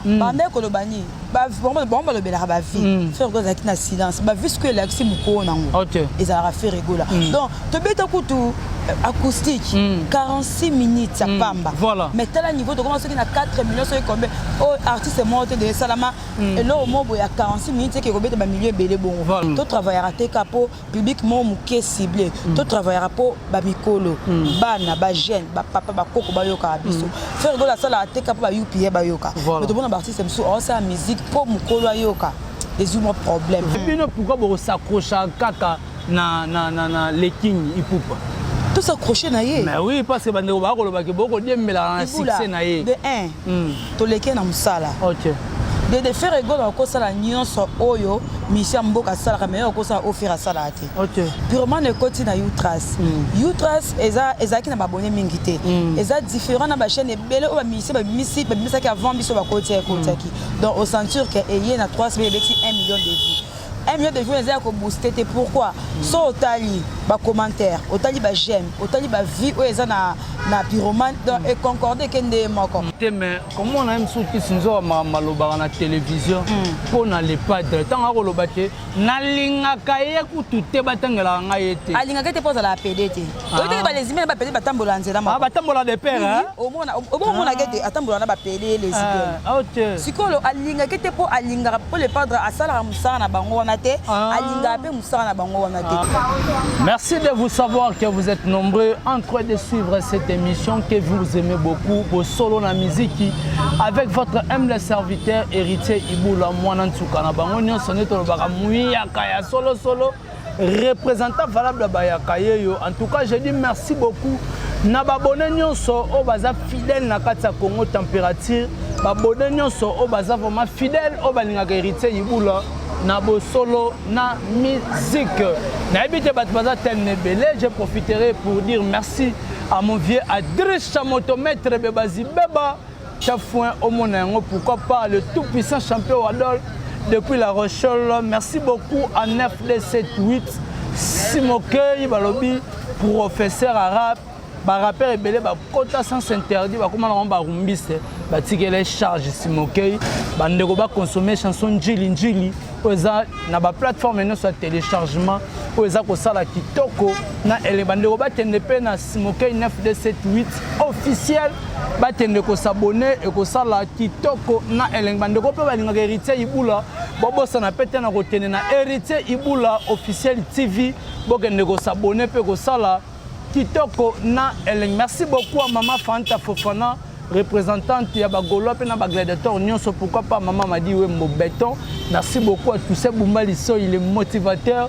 Mm. banda ekoloba nini bango balobelaka bavie mm. frère egola ezalaki na silence bavie sikoyo elakisi mokoo nango oh, ezalaka frère egola mm. donc tobeta kutu euh, acoustique 46 minutes ya pamba mais tala niveau tokoma soki na 4 millions soki combien oyo oh, artiste moko te de esalama eloko moko boye ya 46 minutes eke ekobeta bamilio ebele bongo to travaillaka te ka mpo public moko moke cible mm. to travaillaka mpo bamikolo mm. bana bajeune bapapa bakoko bayokaka mm. biso frère gola asalaka te ka mpo ba upa bayoka me tomona baartiste mosusu aosala musique mpo mokolo ayoka ezwi mwa problème bino pourkui bokosakrocha kaka na, na, na, na leking ipupa tosaccroche na ye mais oui parce que bandeko bakolobaki bokodiembelaka na succès na ye de 1 toleke na mosala okay. dede fere egolo akosala nyonso oyo misi ya mboka asalaka me akosala oyo fere asalaka te okay. purement ekoti na utras mm. utras ezalaki na babone mingi te mm. eza différent na bachaîne ebele oyo bamisi babimisi babimisaki avant biso bakoti ekotiaki mm. donc ocenture ke eye na 3 semaine ebeti 1 million de vues 1 million de vues eza ya ko booster te pourquoi mm. so otali ba commentaires otali ba j'aime otali ba vues oyo eza na na pyromane donc mm. econcorde eke nde moko te mais komona ye mosusu kisi nzoka makambo alobaka na télévision mpo mm. na le padre ntango akoloba te nalingaka ye kutu te batangelaka ngai ye te alingaka te mpo azalaka pede te Oyo te ba lesbiennes ba pele batambola na nzela moko. Ah batambola de pair hein. Omona obomona gete atambola na ba pele lesbiennes. Ah ok. Sikolo alinga kete po alinga po le padre asala musala na bango wana te. Alinga pe musala na bango wana te. Merci de vous savoir que vous êtes nombreux en train de suivre cette émission que vous aimez beaucoup pour solo na miziki avec votre humble serviteur héritier Ibula mwana nsuka na bango nyonso nde tolobaka muyaka ya solo solo représentant valable ya bayaka yeyo en tout cas je dis merci beaucoup na babone nyonso oyo baza fidèle na kati ya congo température babone nyonso oyo baza vraiment fidèle oyo balingaka héritier yibula na bosolo na musique nayebi te bato baza telme ebele je profiterai pour dire merci à mon vieux adricha motomètre bebazibeba Chafouin omona yango pourquoi pas le tout puissant champion Wadol depuis la Rochelle. Merci beaucoup à 9D78 Simokei balobi professeur arabe barapere ebele bakota sans interdit bakoma na bango barumbiste batikele charge simokei bandeko baconsomme chanson njili njili oyo eza na baplateforme nyonso ya téléchargement oyo eza kosala kitoko na ele bandeko bakende mpe na simokei 9d78 officiel bakende kosabone ekosala kitoko na elenge bandeko mpe balingaka héritier ibula bobosana mpe te na kokende na héritier ibula officiel tv bokende kosabone mpe kosala kitoko na elenge merci beaucoup a mama fanta fofana représentante ya bagolois mpe na bagladiateur nyonso pourquoi pas mama madi wembo beton merci beaucoup a tousse bumba lisoi le motivateur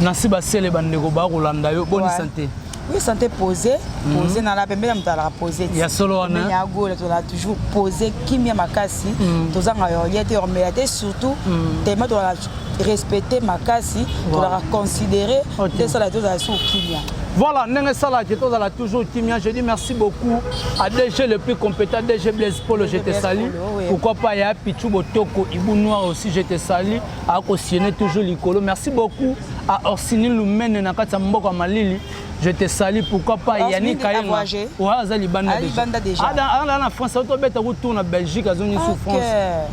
na si basele bandeko bakolanda yo boni sante oui sante pose mhm. pose na la pembeni ya moto alaka pose ya solo wana ya gola tozala toujours pose kimia makasi mhm. tozanga yoria te ormela te surtout mhm. tema tozala respecte makasi tozalaka considéré tesala tozala sur kimia voilà ndenge esalaki tozala toujours kimia je dis merci beaucoup à dg le plus compétent dg blaise polo je te sali pourquoi pas ya pichu botoko ibu noir aussi je te sali akosiene toujours likolo merci beaucoup à orsini lumene na kati ya mboka malili je te sali pourquoi pas yani kayenga oyo aza libanda aza na france otobeta kutour na belgique azongi sous france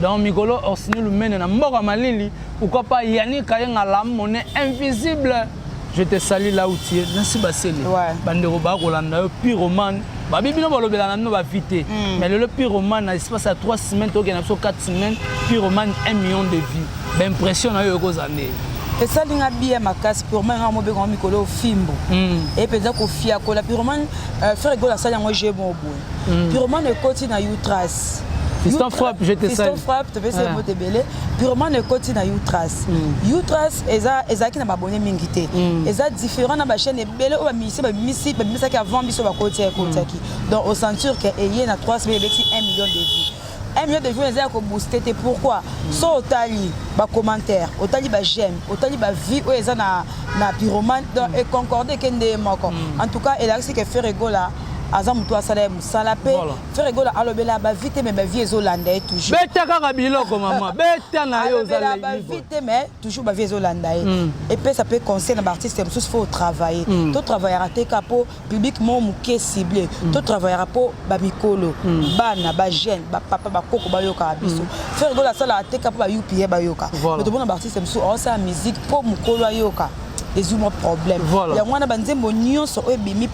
donc mikolo orsini lumene na mboka malili pourquoi pas yani kayenga lamone invisible Je te salue là où tu es. Nancy Basele. Ouais. Bandeko ba kolanda yo pyromane. Ba bibi no balobela na no ba vite. Mm. Mais le pyromane na espace à 3 semaines to kena so 4 semaines, pyromane 1 million de vues. Ba impression na yo ko zande. esali nga biya makasi purman nga mobeko yango mikolo ofimbo e mpenza kofiakola purman euh, frere gola asali yango je moboye mm. purement ekoti na utrace Fiston frappe, je te salue. Fiston frappe, topesi ye mbote ebele. Purement ekoti na Utras. Mm. Utras eza ezalaki na babone mingi te. Mm. Eza différent na ba chaîne ebele oyo bamisi babimisi babimisaki avant biso bakoti ekotaki. Mm. Donc au ceinture que eye na 3 semaines ebeti 1 million de vues. 1 million de vues eza ya ko booster te pourquoi mm. so otali ba commentaires otali ba j'aime otali ba vues oyo eza na na pyromane donc mm. econcorde ke nde moko mm. en tout cas elakisi ke Ferre Gola aza motu asala ye mosala mpe frere gola alobela bavi te mai bavi ezolanda ye toujours beta kaka biloko mama beta na yo ozala bavi te mai toujours bavi ezolanda ye hmm. epesa mpe conseil na baartiste mosusu fo otravaille hmm. totravaillaka te ka mpo public moko moke cible mm. to travaillaka mpo bamikolo mm. bana bajeune bapapa bakoko bayokaka mm. biso frère gola asalaka te ka mpo ba upa bayoka me tomona baartiste mosusu aosala musique mpo mokolo ayoka ezwi mwa problème yango wana banzembo nyonso oyo ebimi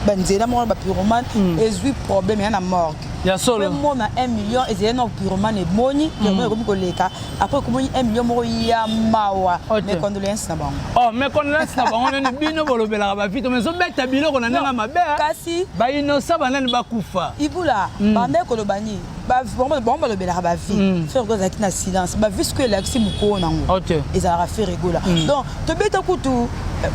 banzela moko na bapyromane ezwi problème ya na morgue ya solo mona 1 million ezali na pyromane eboni pyromane ekomi koleka après okomoni 1 million moko ya mawa mes condoléances na bango oh mes condoléances na bango nani bino bolobelaka bavito mais ozobeta biloko na ndenge mabe eh? kasi bainosa banani bakufa ibula hmm. banda ekoloba nini bango balobelaka bavie hmm. fergo azalaki na silence bavie siko elakisi mokoo nango ezalaka feregola hmm. donc tobeta kutu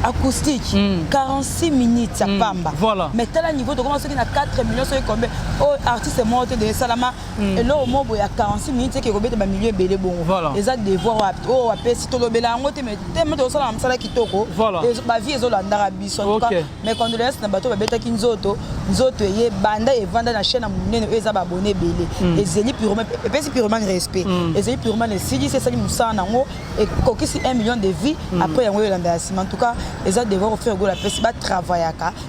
acoustique mm. 46 minutes ya mm. pamba voilà. mais tala niveau tokoma soki na 4 millions soki combien oyo oh, artiste moko te de esalama Mm. eloko moko boye ya 46 minutes eke kobeta bamilio ebele bongo eza devoir wapi oyo oh, wapesi tolobela yango te teme tozosala na mosala kitoko bavie ezolandaka biso antuka mais condoléance na bato babetaki nzoto nzoto eye banda evanda na chaine ya monene oyo eza babone ebele mm. ezeli purement epesi purement respect mm. ezeli purement esilisi esali mosala na yango ekokisi 1 million de vie après yango elanda ya nsima antuka eza devoir ofere gola apesi batravaillaka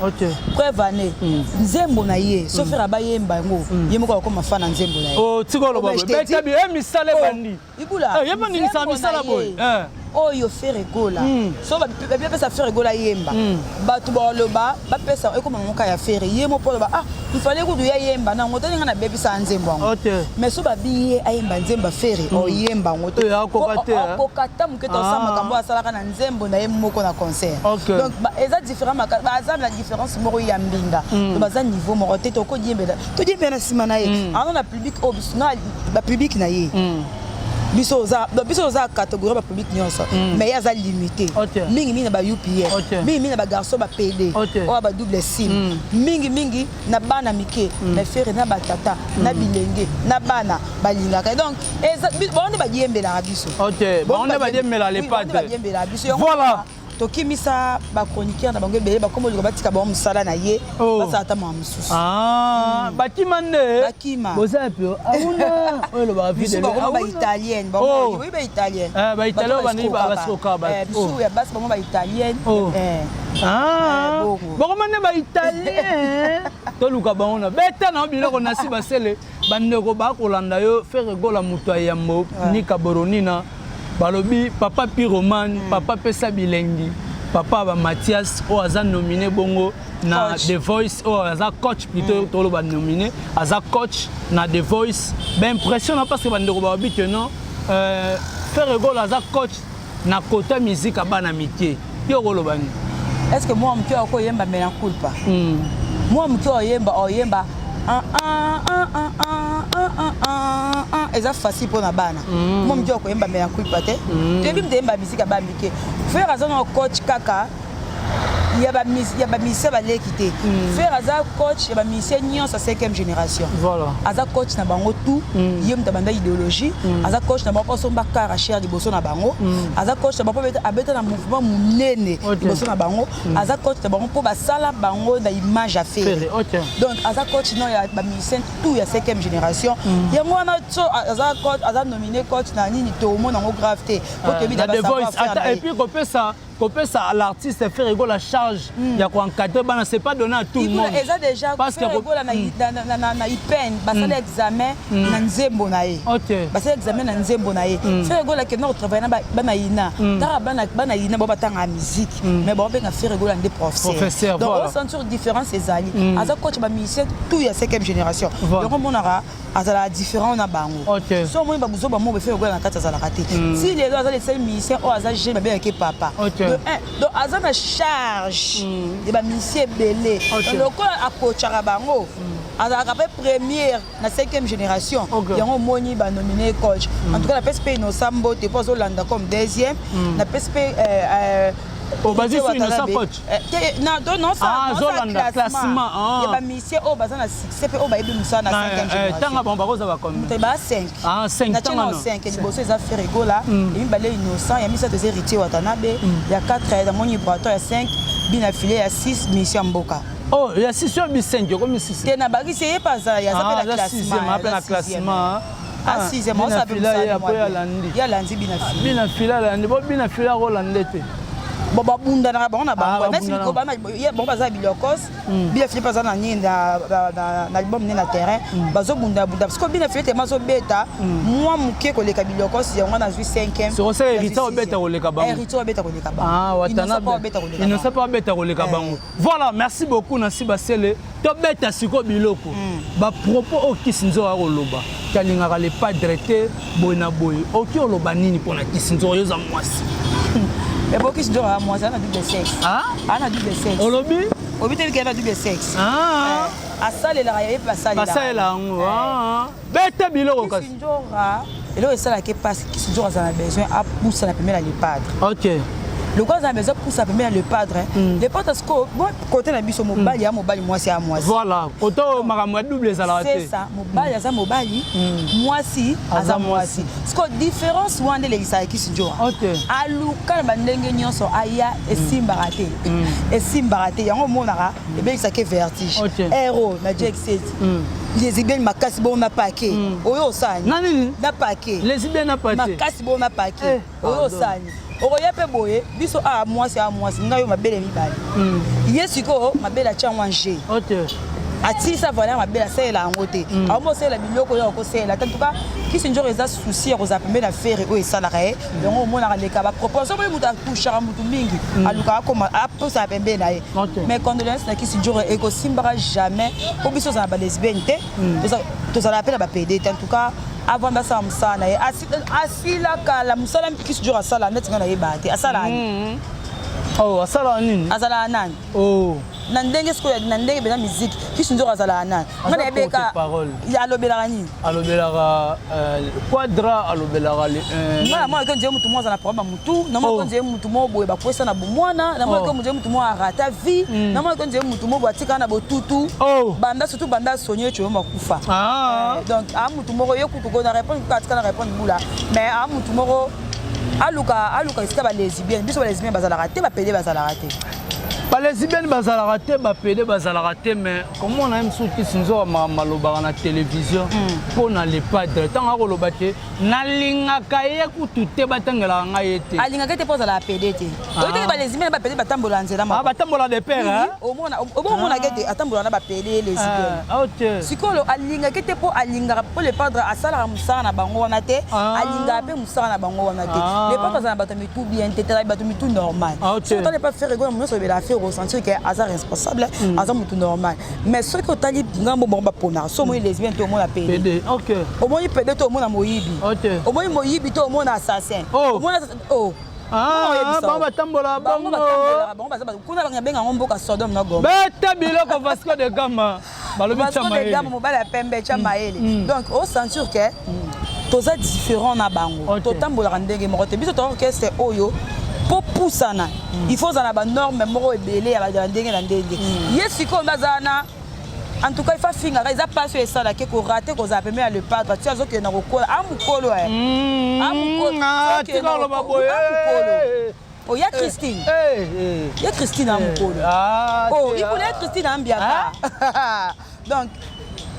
Okay. Preuve année. Mm. Nzembo na ye. Sauf mm. ba yemba yango. Mm. Ye moko akoma fana nzembo na ye. Oh, tiko lo babo. Beta bi e eh, misale oh, bandi. Ibula. Eh, yemba ni sa misala boy. Eh. Oyo Ferre Gola. Mm. So ba ba pesa Ferre Gola yemba. Mm. Batu ba loba ba pesa ekoma moka ya Ferre. Ye mo polo ba ah, il fallait ko duya yemba na ngota ninga na baby sa nzembo yango. Okay. Mais so ba biye ayemba nzemba Ferre. Mm. O yemba ngoto. Ko kata muketa osama kambo asalaka na nzembo na ye moko na concert okay. donc ba, eza différent baza na différence moko ya mbinga mm. baza niveau moko te tokodiembela todiembela na nsima na ye mm. ano na public oyo biso na bapublic na ye mm. biso oza biso oza catégorie ba public nyonso mm. mais ye aza limité mingi mingi na ba upf mingi mingi na ba garçon ba pede oyo ba double sim mm. mingi mingi na bana mike mm. na fere na batata mm. na bilenge na bana balingaka donc bango nde badiyembelaka biso bango nde badiyembela lepatebadiyembelaka biso voilà tokimisa bachroniqueur na bango ebele bakoma olinga batika bango mosala na ye oh. basala ata mwa mosusu ah, hmm. bakima nde bakima boza yapi auna oyo elobaka videbakoma baitalienne oh. oyi baitalienne eh, baitalienne bandi basoka eh, bisu oh. ya basi bango baitalienne eh. ah. bakoma nde baitalien toluka bango na beta na yo biloko na si basele bandeko bakolanda yo fere gola moto ya yambo ah. nika boronina balobi papa piromane hmm. papa pesa bilengi papa ba mathias oyo aza nomine bongo na coach. the voice oyo aza coach plutôt mm. toloba nomine aza coach na the voice baimpression na parce que bandeko balobi que non euh, ferre gol aza coach na kota miziki ya bana mike yo okoloba nini est ce que mwa moke oko oyemba mela culpa hmm. mwa moke oyemba oyemba ah, ah, ah, eza facile mpo na bana hmm. mwa moke okoyemba mela culpa te hmm. toyebi mite yemba miziki ya bana mike frere aza na coach kaka ya bamisien baleki te mm. fer aza coach ya bamisien nyonso ya 5e génération voilà. aza coach na bango tout mm. ye moto abanda idéologie mm. aza coach na bango asomba kara cher liboso na bango mm. aza coach na bango mpo abeta na mouvement monene okay. liboso na bango mm. aza coach na bango mpo basala bango na image ya fere okay. donc aza coach no ya bamisien tout ya 5e génération mm. yango wana so aza coach aza nomine coach na nini toomona yango grave te mpo ah, toyebi na basavoir fer na ye kopesa à l'artiste Ferre Gola charge mm. ya ko encadrer bana c'est pas donné à tout le monde eza déjà parce que Ferre Gola na hmm. na na, na IPN basala hmm. examen hmm. na nzembo na ye okay. basala examen na nzembo na ye Ferre Gola ke nako travailler na bana ina tara bana bana ina ba batanga musique mais ba benga Ferre Gola nde professeur donc on sentir différence ezali aza coach ba musicien tout ya 5e génération donc on monaka azalaka différent na bango okay. so omoni babuzoba moko efele okola na kati azalaka te mm. si lelo aza leseli musicien oyo aza jeune babengaki papa okay. de un donc aza na charge mm. ya bamusicien ebele okay. lokola akocaka bango mm. azalaka mpe première na cinquième génération okay. yango omoni banomine coach mm. en tout cas napesi mpe innocent mbote mpo azolanda comme deuxième mm. napesi mpe euh, euh, obazi oh, su innocent coach Eh, ah, azolanda classement ah. ya bamisie oyo baza na succès mpe oyo bayebi mosala na eh, eh, tanga bango bakoza bakomba 5 liboso eza ferigola mm. ya mibale innocent ya misato eza héritier watanabe mm. ya 4 ya moni braton ya 5 bina file ya 6 misie ya mboka oh ya 6 oyo bisengi okomi 6 te na bakisi ye mpe azala ye aza mpe na classement Ah, bina fila ye apo yalandi yalandi bina fila bina fila alandi bo bina fila akolanda te bon babundanaka bango na bango mesi ah, mikobana ye bango baza bilokos hmm. bina filipe aza na nini na album ne na terrain hmm. bazobundabunda parceke bina filipe tema azobeta hmm. mwa moke koleka bilokos yango wana azwi 5emeobeta koleka bangoinosa mpe abeta koleka bango Voilà, merci beaucoup Nancy Basele. Tobeta siko biloko. Mm. Ba propos au Kisinzo a oloba. Kalingaka le padre te boy na boy. Oki oloba nini pona Kisinzo yoza mwasi. Ebo Kisinzo a mwasi ana double sexe. Ah? Ana double sexe. Olobi? Obi te bikela double sexe. Ah. Eh, asalelaka ye pe asalelaka. Asalelaka yango. Eh. Ah. bete biloko kasi kisindjora eloko esalaki mpasi kisindjora aza na besoin apusa na pemela le padre ok lokola aza na besoin apusa pemela le padre mm. le padre sikoyo kote na biso mobali mm. ya mobali mwasi ya mwasi voilà kote oyo makambo ya double ezalaka te ça mobali mm. aza mobali mwasi aza mwasi sikoyo différence wana nde elekisaka kisindjora aluka na bandenge nyonso aya esimbaka te esimbaka te yango omonaka ebebisaki vertige ero na jack set lesbienne makasi bongo na pake oyo osani na nini na pake lesbienne na pake makasi bongo na pake oyo osani okoya mpe boye biso a mwasi a mwasi ngai yo mabele mibale ye sikoyo mabele atya yango ange atilisa valeur mabele asalela yango te aomosalela biloko oyo akosalela te en tout cas kisi njoko eza souci ya kozala pembe na fere oyo esalaka ye yango omonaka leka bapropose soki moto akushaka motu mingi mm. alukaka akoma aposaka pembe na ye mais condoléance na kisi joro ekosimbaka jamais mpo biso ozala balesbienne te mm. tozalaka mpe na bapede te en tout cas avanda asala mosala na ye asila kala mosala kisi joro asala neti ngai nayebaka te asala mm. oh, asala nini azalaka nani Oh. na ndenge sikoyo na ndenge bena miziki kisi nzoko azalaka nani nga na ebeka alobelaka nini alobelaka euh, quadra alobelaka euh, nga na mwana kenje motu moko aza na problème ya motu na mwana oh. kenje motu moko boye bakwesa na bomwana na mwana kenje oh. motu moko arata vie hmm. na mwana kenje motu moko atikala na botutu oh. banda surtout banda sonye coyo makufa ah. eh, donc a motu moko ye kutu ko na répondre kutu atikala na répondre bula mais a motu moko aluka aluka esika ba lesbienne biso ba lesbienne bazalaka te ba pede bazalaka te ba lesbienne bazalaka te ba pede bazalaka te mais comment na msu kisi nzoka malobaka na télévision mpo hmm. na le padre ntango akoloba te nalingaka ye kutu te batangelaka ngai ye te alingaka te mpo azalaka pede te Oyo teke ba lesbiennes ba pele batambola na nzela moko. Ah batambola de pair hein. Omona omona gete atambola na ba pele lesbiennes. Ah ok. Sikolo alinga kete po alinga po le padre asala musala na bango wana te. Alinga pe musala na bango wana te. Le padre azana bato mitu bien te tala bato mitu normal. Si otali pa faire ego muso bela faire au sentir que aza responsable, aza mutu normal. Mais soki otali ngambo bango ba pona, so moi lesbienne to omona pele. Pede. Ok. Omoni pede to omona moyibi. Ok. Omoni moyibi to omona assassin. Omona oh. bango batambola bango baza kuna bango benga yango mboka sodome na goma beta biloko vasco de gama balobi de gama mobali ya pembe tya mayele mm, mm. donc o sentir ke mm. toza différent na bango totambolaka ndenge moko te biso toza orchestre oyo mpo pusana il faut ozala na banorme moko ebele ya ndenge na ndenge ye sikoyo nde aza na en tout cas ifa fingaka eza mpasi oyo esalaki ekorate kozala pembe ya lepatre ti azokende na kokola a mokolo eh. mm, ah, tikaloba boye Oh, ya Christine. Eh, eh, ya Christine a mokolo. Ah, oh, ikuna ya Christine ambiaka. Ah. Donc,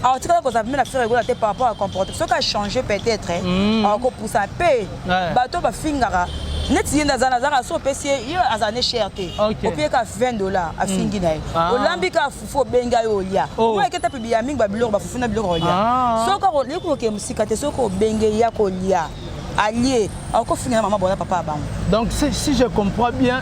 akotikala kozala mpe na fere egola te par rapport à comportement soki achange peut-être akopusa mpe Eh. bato bafingaka neti ye nde aza nazaka so opesi ye ye azala ne cher te opiye ka 20 dollar afingi na ye mm. ah. olambi ka fufu obenga ye olya oh. oyo eketa mpe biya mingi babiloko bafufu na biloko olya ah. soki okoki kokee mosika te soki obenge ya kolya alie akofinga na mama bona papa ya bango donc si je comprends bien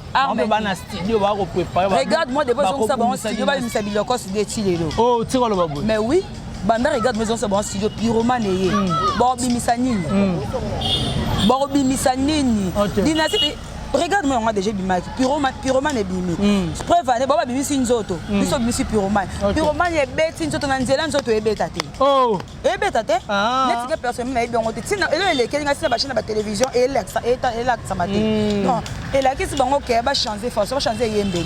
bango baa na studio baa koprepare regarde moi depuis ezongisa bango studio babimisa biloko studio eti lelo o oh, tika loba boye mais oui banda regarde moi ezongisa bango studio piromane ye hmm. bakobimisa nini hmm. bakobimisa nini dinasi regarde moi yango déjà ebimaki pyromane ebimi hmm. preuve ane bao babimisi nzoto biso babimisi pyromane pyromane ebeti nzoto na nzela nzoto ebeta te oh. ebeta te ah. neti ke personne nayebi yango te ntina elo elekeli ngai ntina bachine na batelevizio elakisama te hmm. non elakisi bango ke bachange force bachange eyembeli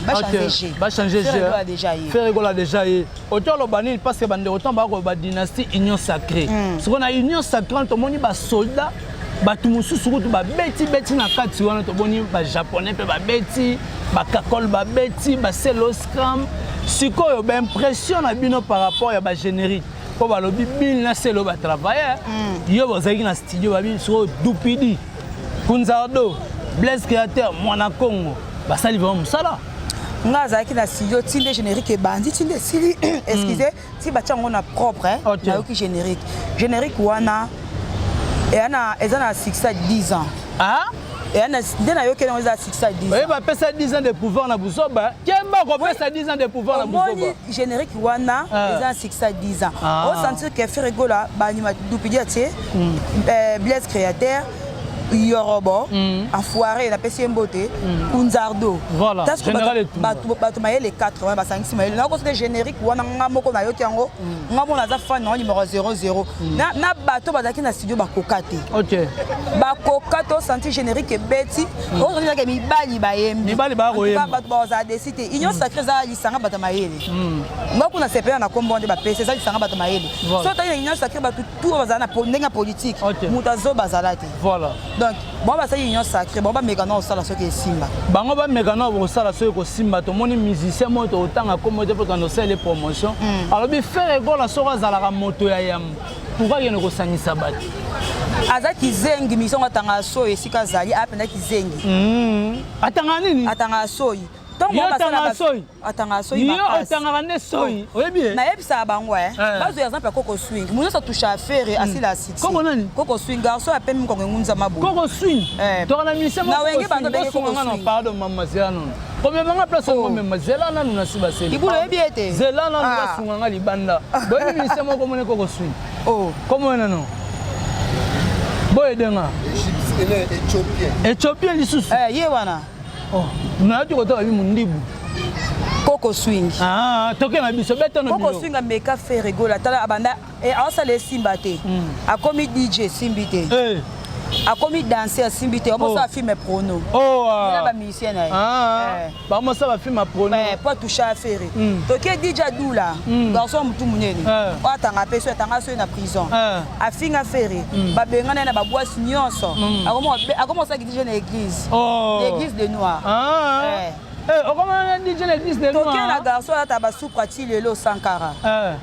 bachangeferegola déjà ye oto oloba nini parce que bandeko ntango bakoba badynastie union sacré hmm. sikoyo na union sacré wana tomoni basoldat bato mosusu kutu babetibeti na kati wana tomoni bajaponais mpe babeti bakakole babeti baseloscram sikoyo baimpression na bino par rapport ya bagénérique mpo balobi bini na selo ba travailleur mm. yo bozalaki na studio babi sikoyo dupidi kunzardo blaise créateur mwana congo basali vraimen mosala nga azalaki na studio ti nde générique ebandi ti nde esili excuse mm. ti batya yango na propre eh, nayoki générique générique wana eza na succès 10 ans ah? Eh, nde nayokeli yango eza succès ya 10 oye bapesa 10 ans de pouvoir na buzoba kemba kopesa 10 ans de pouvoir na buzoba générique wana ah. eza succès ya 10 ans ah. osentir que ferigola baanima dupidia tie hmm. eh, blaise créateur yorobo hmm. afoire napesi ye mbote hmm. kunzardo bato mayele 80 basangisi mayele nakoso te générique wana nga moko nayoki yango nga mona aza fan yango numero 00 Mm. na, na bato bazalaki na studio bakoka te okay. bakoka to senti générique ebeti mm. ozoke mibali bayembibato bazala desi te union mm. sacré eza lisanga bato mayele mm. nga kuna sepela na kombo nde bapesi eza lisanga bato mayele voilà. so otali na union sacré bato tour bazala na ndenge ya politike okay. moto azoba azala te voilà. donc bango basali union sacré bango bameka nao kosala soki esimba bango bameka nao kosala soki ekosimba tomoni musicien moko tokotanga nkombo te mpo tokanda osalele promotion hmm. alobi fere ekola soko azalaka moto ya yambo pourkui akende kosangisa bato aza kizengi misongo atangaka soyi esika azali apenza kizengi hmm. atangaka nini atangaka soyi ntongo basala atangaka soyi yo makasi otangaka nde soyi oyebi ye nayebisaka bango eh. Eh. bazo ya exemple ya koko swing moto nyonso atusha afere asila asiki Koko nani? koko swing garçon ya pembe mokongo engunza maboye koko swing Eh. tokana mise Na wenge bando benge Koko nga na swing. pardon mama zela nanu komema nga place yango Oh. mema zela nanu na siba seli libulu oyebi ye te zela nanu Ah. basunga nga libanda boyebi mise moko komone koko swing Oh. komone nano boyede nga Égypte, elle est éthiopienne. ethiopien lisusu Eh, ye wana Oh, nayaki kotala bi mundibu koko swing ah, toke na biso beta no koko swing ameka fere gola tala abanda eh, aosala esimba te hmm. akomi dj esimbi te eh. akomi danse asimbi te omosala oh. filme prono oh, ah. na bamusicien na ye ah, eh. bamosala bafilme prono po atoucha fere hmm. toke dj adula hmm. garçon motu monene oyo atanga mpe soki atanga soki na prison afinga fere babengana ye na babwasi nyonso akomosaki DJ na église. Oh. L'église de noir. Ah. Eh. Eh, okomona na DJ na église de noir. Tokia na garçon la tabasupra ti lelo Sankara. Eh.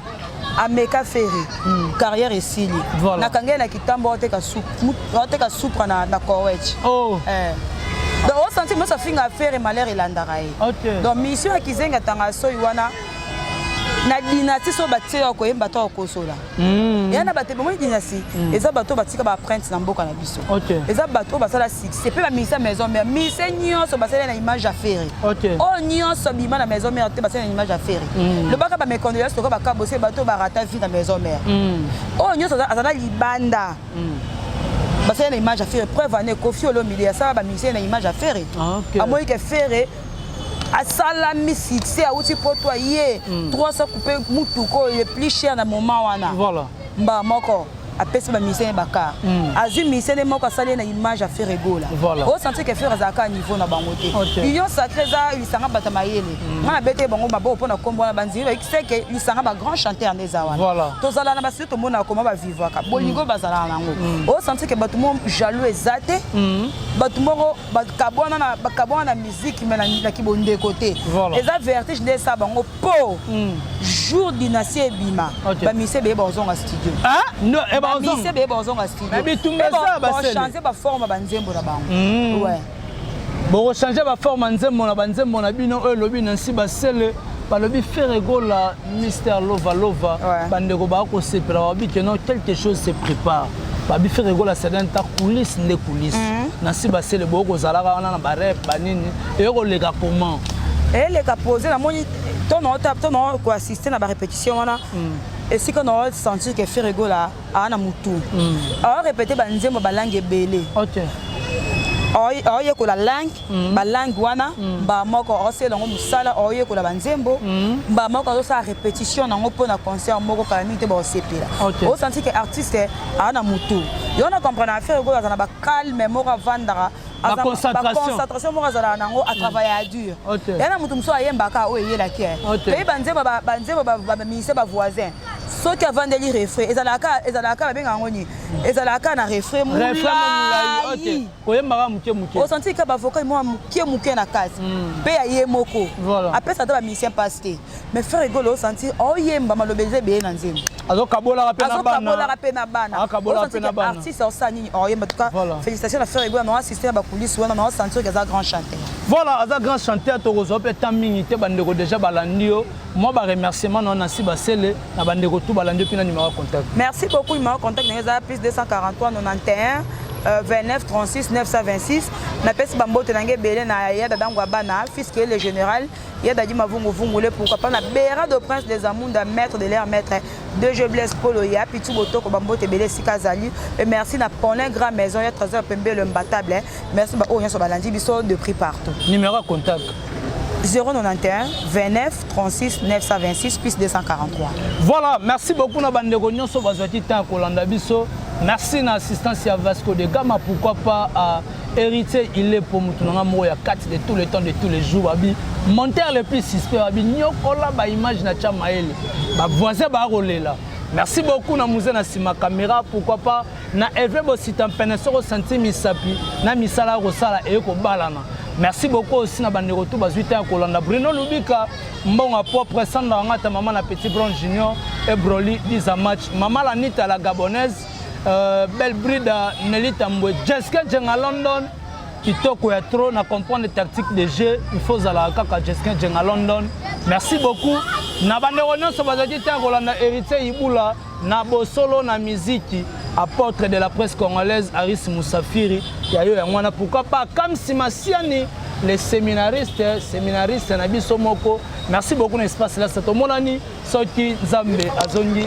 ameka fere hmm. carrière esili voilà. nakanga ye na kitambo oteka supra na, na cowech oh. eh. donc osanti mosi afinga fere malheur elandaka ye okay. donc mission ya kizenga tanga soyi wana na dynastie so batie ya koyemba to ya kosola Mm. eya na bato ebomoni dinasi mm. eza bato oyo batika baprinte na mboka na biso eza bato oyo basala succès mpe bamisa maison mare mise nyonso basali na image ya ferre oyo nyonso bima na maison mare te basali na image ya ferre mm. lobaka bamekondoya soka bakabose bato oyo barata vie na maison mare oyo nyonso azala libanda basali na image ya ferre preuve ane kofi olomide asala bamise na image ya ferre amoyike ferre asalami succès awuti poto aye 300 coupe motuka oyo le plus cher na moment wana voilà. mbaa moko apesi bamisene bakar mm. azwi misene moko asali ye na image ya fere egola voilà. osanti ke fere azalaka ya niveau na bango te okay. union sacré eza lisanga bato mayele mm. ngai nabete bango maboko mpo na kombo wana bandimi bakiseke lisanga bagrand chanteur nde eza wana voilà. tozala na basili tomonaka koma bavivaka bolingo mm. bazalaka na yango mm. osanti ke bato moko jaloux eza te mm. bato moko bakabwana na bakabwana na musique mais na, na kibondeko te Voilà. eza vertige nde esa bango po Mm. jour dynastie ebima Ok. bamise beye bakozonga studio Ah, no, eh, ba- bamise ozonga. beye bakozonga studio Mais bitumba eza basele. change baforme banzembo na bango Mm. Ouais. bokochange baforme ya nzembo na banzembo na bino oyo elobi nansi basele balobi Ferre Gola, Mister Lova Lova, ouais. bandeko ba ko sepela wabi que non quelque chose se prépare. Babi Ferre Gola c'est un tas coulisse nde coulisse. Mm -hmm. Na si ba sele bo ko zalaka wana na ba rep ba nini et ko leka comment? Et les ka poser la moni ton on tape ton on ko assister na ba répétition wana. Mm. esika na sentir ke ferre gola aa na motu hmm. aorepete banzembo balange ebele aoyekola langue mm. balangue wana mm. mbaa moko aosala yango mosala aoyekola banzembo mm. mbaa moko azosala répétition nango mpo na concert moko kala mingi te baosepela okay. osanti ke artiste aa na motu yo na comprendre affaire oyo aza na bacalme moko avandaka baconcentration moko azalaka nango atravaille ya dur ya na motu mosusu ayembaka oyo eyelaki mpe banzembo banzembo baministre bavoisin soki avandeli refrain ezalaka ezalaka babenga yango nini ezalaka na refrain molai koyembaka moke moke osanti ka bavoka mwa moke moke na kati hmm. mpe ya ye moko apesa ata bamusicien mpasi te mais frère egolo osanti oyemba maloba eza ebele na nzembo azokabolaka mpe na bana azokabolaka mpe na bana akabolaka mpe na bana artiste osala nini oyemba oh, tuka félicitation na frère egolo na oassiste na bakulisi wana na osanti oyo aza grand chanteur voilà aza grand chanteur tokozwa mpe temps mingi te bandeko déjà balandi yo Moi ba remerciement na Nancy Basele na bande ko tout balandi pina numéro contact. Merci beaucoup numéro contact na eza plus 243 91 29 36 926 na pesi ba mbote na nge belé na ya dada ngwa bana fils qui est le général ya dadi mavungu vungu le pourquoi pas na bera de prince des amunda maître de l'air maître de je blesse polo ya pitu botoko ba mbote belé sika zali et merci na pone grand maison ya trésor pembe le mbatable Merci ba oyo nyonso balandi biso de prix partout. Numéro ya contact 091 29 36 926 plus 243. Voilà, merci beaucoup na bandeko nyonso bazwaki temps ya kolanda biso. Merci na assistance ya Vasco de Gama, pourquoi pas à héritier il est pour mutu nanga moko ya kati de tous les temps de tous les jours babi monteur le plus suspect babi nyokola ba image na tia maele ba voisin ba kolela. Merci beaucoup na muze na sima caméra, pourquoi pas Na Herve Bosita Mpene, soki osanti misapi na misala ya kosala eye kobalana. Merci beaucoup aussi na bandeko tu bazwi te ya kolanda Bruno Lubika, Mbonga Propre, Sandra Wangata, Mama na Petit Brown Junior, et Broly, Diza Match, Mama Lanita la Gabonaise, euh, Belle Brida, Nelly Tambwe, Jessica Jenga London, kitoko ya trop na comprendre tactique de jeu il faut ozala kaka jeskin jenga london merci beaucoup na bandeko nyonso bazalaki te ya kolanda héritier ibula Na bosolo na miziki apotre de la presse congolaise Aris Musafiri ya yo yango wana pourquoi pas Kamsi Masiani les seminaristes seminaristes na biso moko merci beaucoup na espace là ça tomonani soki Nzambe azongi